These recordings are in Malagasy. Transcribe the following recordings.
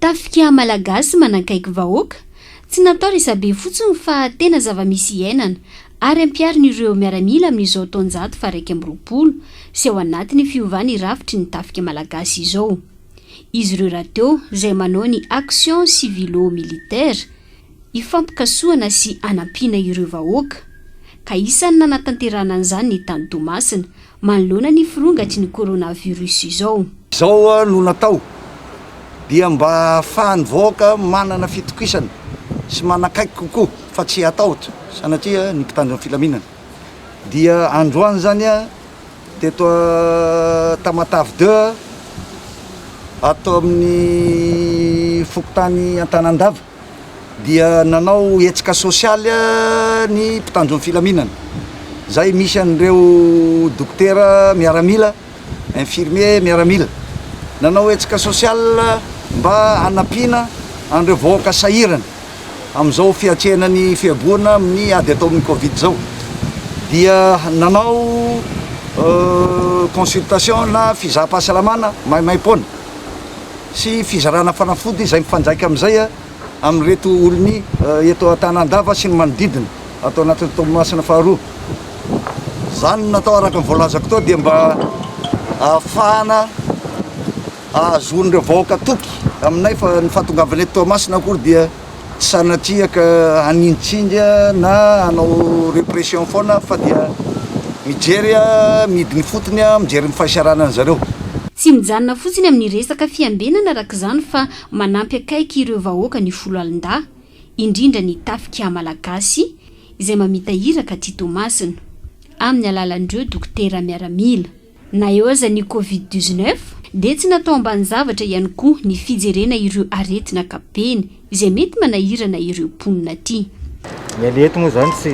Tafika Malagasy manakaiky vahoaka, tsy natao resabe fotsiny fa tena zava-misy iainana ary ampiharin'ireo miaramila amin'izao taonjato faharaika amby roapolo sy ao anatin'ny fiovana irafitry ny Tafika Malagasy izao izy ireo rahateo izay manao ny Action Civilo-Militaire hifampikasohana sy hanampiana ireo vahoaka, ka isan'ny nanatanterahana an'izany ny tany Toamasina, manoloana ny firongatry ny coronavirus izao. Izao no natao dia mba hahafahan'ny vahoaka manana fitokisana sy manakaiky kokoa fa tsy hatahotra sanatria ny mpitandro ny filaminana dia androany izany teto Tamatave deux ato amin'ny fokontany Antanandava. dia nanao hetsika sosialy ny mpitandro ny filaminana izay misy an'ireo dokotera miaramila, infirmiers, miaramila. Nanao hetsika sosialy mba hanampiana an'ireo vahoaka sahirana amin'izao fiatrehana ny fihaboana amin'ny ady atao amin'ny covid izao dia nanao consultation na fizaham-pahasalamana maimaim-poana. sy fizarana fanafody izay mifandraika amin'izay amin'ireto olon'ny eto Antanandava sy ny manodidina ato anatin'ny Toamasina faharoa. Izany no natao araka ny voalazako teo dia mba ahafahana ahazoan'ireo vahoaka toky aminay fa ny fahatongavanay eto Toamasina akory dia tsy sanatria ka hanintsinga na hanao repression foana fa dia mijery midiny ifotony, mijery ny fahasarana an'i zareo. Tsy mijanona fotsiny amin'ny resaka fiambenana araka izany fa manampy akaiky ireo vahoaka ny foloalindahy, indrindra ny tafika malagasy izay mamita iraka aty Toamasina, amin'ny alalan'ireo dokotera miaramila. Na eo aza ny Covid dix-neuf dia tsy natao ambanin-javatra ihany koa ny fijerena ireo aretina ankapobeny izay mety manahirana ireo mponina aty. Ny an'ny eto moa izany tsy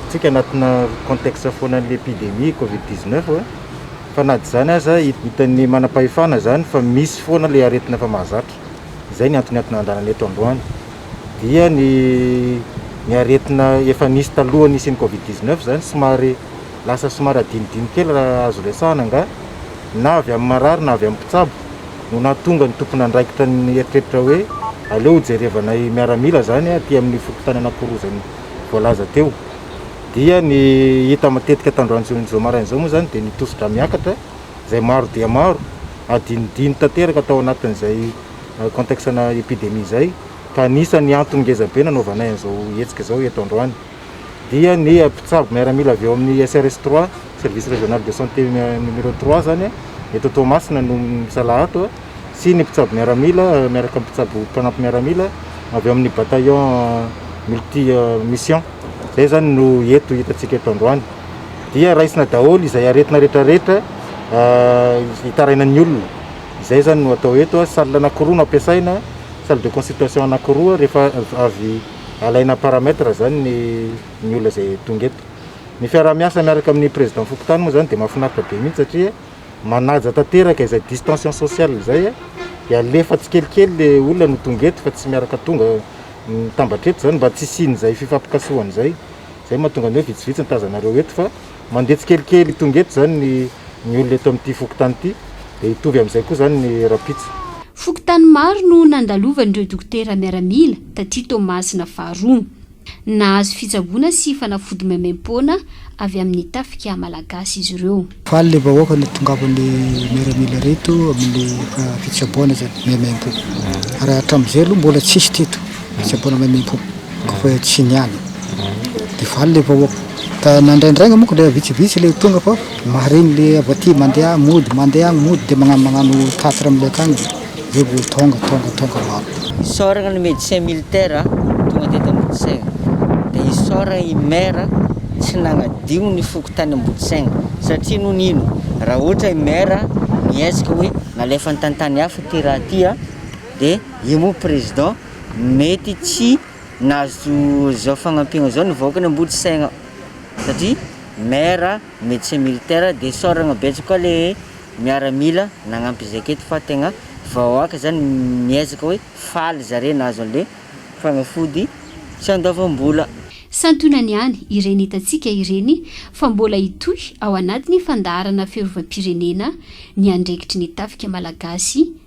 tsika anatina contexte foana an'ilay epidemie Covid dix-neuf fa na dia izany aza hitan'ny manam-pahefana izany fa misy foana ilay aretina efa mahazatra. Izay ny antony antony andrana eto androany dia ny ny aretina efa nisy talohan'ny hisian'ny Covid dix-neuf izany somary Lasa somary adinodino kely raha azo resahana angaha, na avy amin'ny marary na avy amin'ny mpitsabo, no nahatonga ny tompon'andraikitra nieritreritra hoe aleo hojerevanay miaramila izany aty amin'ny fokontany Anakorozany voalaza teo. Dia ny hita matetika tandroan'izao maraina izao moa izany dia ny tosi-drà miakatra izay maro dia maro, adinodino tanteraka tao anatin'izay contexte-na epidemie izay, ka anisan'ny antony ngezabe nanaovanay an'izao hetsika izao eto androany. dia ny mpitsabo miaramila avy ao amin'ny SRS trois, Service Régional de Santé numéro trois, izany eto Toamasina no misalaha ato sy ny mpitsabo miaramila miaraka amin'ny mpitsabo mpanampy miaramila avy ao amin'ny bataillon multi mission. Izay izany no eto hitantsika eto androany. Dia raisina daholo izay aretina rehetrarehetra hitarainan'ny olona. Izay izany no atao eto, salle anankiroa no ampiasaina, salle de consultation anankiroa rehefa avy alaina paramètre zany ny ny olona izay tonga eto. Ny fiaraha-miasa miaraka amin'ny président fokontany moa zany dia mahafinaritra be mihitsy satria manaja tanteraka izay distanciation sociale izay dia alefa tsikelikely le olona no tonga eto fa tsy miaraka tonga mitambatra eto zany mba tsy hisian'izay fifampikasohana izay, zay mahatonga ny hoe vitsivitsy ny tazanareo eto fa. Mandeha tsikelikely tonga eto izany ny ny olona eto amin'ity fokontany ity, dia hitovy amin'izay koa izany ny rahampitso. Fokontany maro no nandalovan'ireo dokotera miaramila taty Toamasina faharoa. Nahazo fitsaboana sy fanafody maimaim-poana avy amin'ny tafika malagasy izy ireo. Faly ilay vahoaka nitongavan'ny miaramila ireto amin'ny fitsaboana izany maimaim-po. Ary hatramin'izay aloha mbola tsisy teto. Tsy aboana maimaipo ko fa tsy niala de faly le vahoaka ka na indraindraigny moko le vitsivitsy le tonga fa mahareny le avy aty mandeha agny mody mandeha agny mody de magnano magnano tatitra amle akagny zay vo tonga tonga tonga maro. Isaoragna ny medecin militaire tonga teto Ambodisegna de isaoragna i maire tsy nagnadio ny fokontany Ambodisegna satria ino no ino raha ohatra i maire mihezaka hoe nalefany tantany hafa ty raha ty a de Io moa président mety tsy nahazo zao fagnampiagna zao ny vahoaka ny ambody saigna satria maire, médecin militaire de saoragna betsaka koa le miaramila nagnampy zay aketo fa tegna vahoaka zany miezaka hoe faly zare nahazo anle fagnafody tsy andoavam-bola. Santionany ihany ireny hitantsika ireny fa mbola hitohy ao anatin'ny fandaharana fiarovam-pirenena ny andraikitry ny tafika malagasy